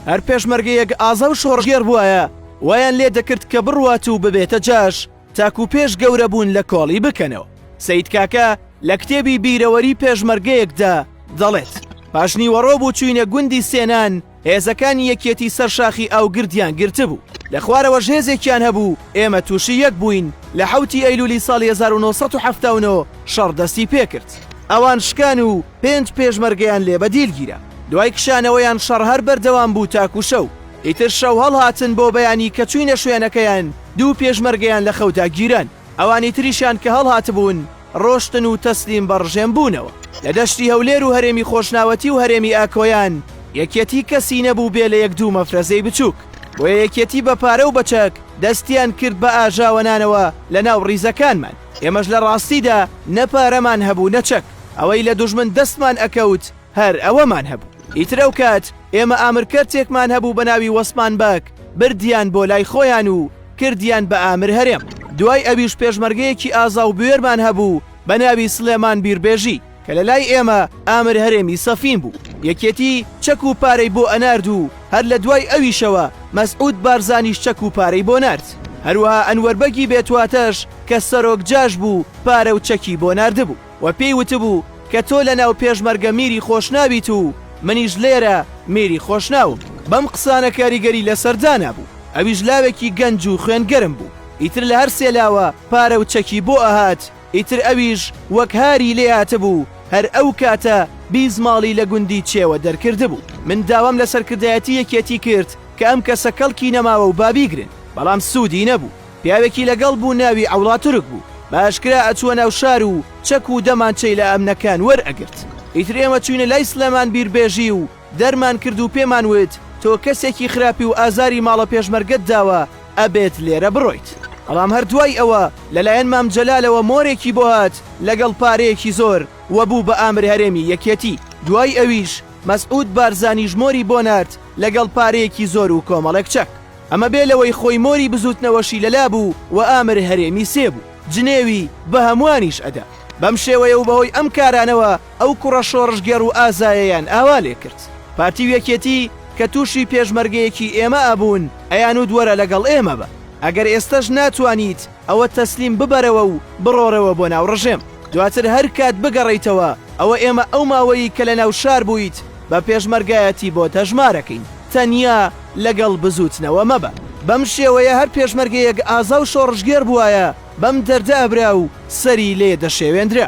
هەر پێشمەرگەیەک ئازا و شۆڕشگێڕ بوایە وایان لێ دەکرد کە بڕوات و ببێتە جاش تاکو پێش گەورە بوون لە کۆڵی بکەنەوە سید کاکە لە کتێبی بیرەوەری پێشمەرگەیەکدا دەڵێت پاش نیوەڕۆ بوو چوینە گوندی سێنان هێزەکانی یەکیەتی سەر شاخی ئاوگردیان گرتبوو لە خوارەوە ژێزێکیان هەبوو ئێمە تووشی یەک بووین لە حوتی ئەیلولی ساڵ 1970 شەڕ دەستی پێکرد ئەوان شکان و پێنج پێشمەرگەیان لێ بەدیل گیرا. دوای کشانەوەیان شەڕ هەر بەردەوام بوو تاکوو شەو. ئیتر شەو هەڵهاتن بۆ بەیانی کە چووینە شوێنەکەیان دوو پێشمەرگەیان لە خەودا گیران. ئەوانی تریشیان کە هەڵهاتبوون ڕۆشتن و تەسلیم بە ڕژێم بوونەوە. لە دەشتی هەولێر و هەرێمی خۆشناوەتی و هەرێمی ئاکۆیان یەکیەتی کەسی نەبوو بێ لە یەک دوو مەفرەزەی بچووک. بۆیە یەکیەتی بە پارە و بە چەک دەستیان کرد بە ئاژاوەنانەوە لە ناو ڕیزەکانمان. ئێمەش لە ڕاستیدا نە پارەمان هەبوو نە چەک، ئەوەی لە دوژمن دەستمان ئەکەوت هەر ئەوەمان هەبوو، ئیتر ئەو کات ئێمە ئامرکەرتێکمان هەبوو بە ناوی وەسمان بەگ بردیان بۆ لای خۆیان و کردیان بە ئامر هەرێم، دوای ئەویش پێشمەرگەیەکی ئازا و بوێرمان هەبوو بە ناوی سڵێمان بیربێژی، کە لە لای ئێمە ئامر هەرێمی سەفین بوو یەکێتی چەک و پارەی بۆ ئەنارد و هەر لە دوای ئەویشەوە مەسعود بارزانیش چەک و پارەی بۆ نارد هەروەها ئەنوەر بەگی بێتواتەش کە سەرۆک جاش بوو پارە و چەکی بۆ ناردبوو و پێی وتبوو کە تۆ لە ناو پێشمەرگە میری خۆشناویت و منیش لێرە میری خۆشناوم. بەم قسانە کاریگەری لەسەر دانا بوو ئەویش لاوێکی گەنج و خوێن گەرم بوو ئیتر لە هەر سێ لاوە پارە و چەکی بۆ ئەهات، ئیتر ئەویش وەک هاری لێ هاتبوو، هەر ئەو کاتە بیزماڵی لە گوندی چێوە دەرکردبوو. من داوام لە سەرکردایەتی یەکێتی کرد کە ئەم کەسە کەڵکی نەماوە و با بیگرن، بەڵام سوودی نەبوو. پیاوێکی لەگەڵ بوو ناوی عەوڵا تورک بوو، بە ئاشکرا ئەچووە ناو شار و چەک و دەمانچەی لە ئەمنەکان وەرئەگرت. ئیتر ئێمە چووینە لای سلێمان بیربێژی و دەرمان کرد و پێمان وت تۆ کەسێکی خراپی و ئازاری ماڵە پێشمەرگەت داوە ئەبێت لێرە بڕۆیت. بەڵام هەر دوای ئەوە لەلایەن مام جەلالەوە مۆرێکی بۆ هات لەگەڵ پارەیەکی زۆر و بوو بە ئامر هەرێمی یەکێتی. دوای ئەویش مەسعود بارزانیش مۆری بۆ نارد لەگەڵ پارەیەکی زۆر و کۆمەڵێک چەک. ئەمە بێ لەوەی خۆی مۆری بزووتنەوەشی لەلا بوو و ئامر هەرێمی سێ بوو جنێوی بە هەمووانیش ئەدا. بەم شێوەیە و بەهۆی ئەم کارانەوە ئەو کوڕە شۆڕشگێڕ و ئازایەیان ئاوا لێ کرد. پارتی و یەکێتی کە تووشی پێشمەرگەیەکی ئێمە ئەبوون ئەیانوت وەرە لەگەڵ ئێمە بە، ئەگەر ئێستەش ناتوانیت ئەوە تەسلیم ببەرەوە و بڕۆرەوە بۆ ناو ڕژێم، دواتر هەر کات بگەڕێیتەوە ئەوە ئێمە ئەو ماوەی کە لە ناو شار بوویت بە پێشمەرگایەتی بۆت هەژمار ئەکەین، تەنیا لەگەڵ بزووتنەوە مەبە. بەم شێوەیە هەر پێشمەرگەیەک ئازا و شۆڕشگێڕ بووایە بەم دەردە ئەبرا و سەری لێ دەشێوێندرا.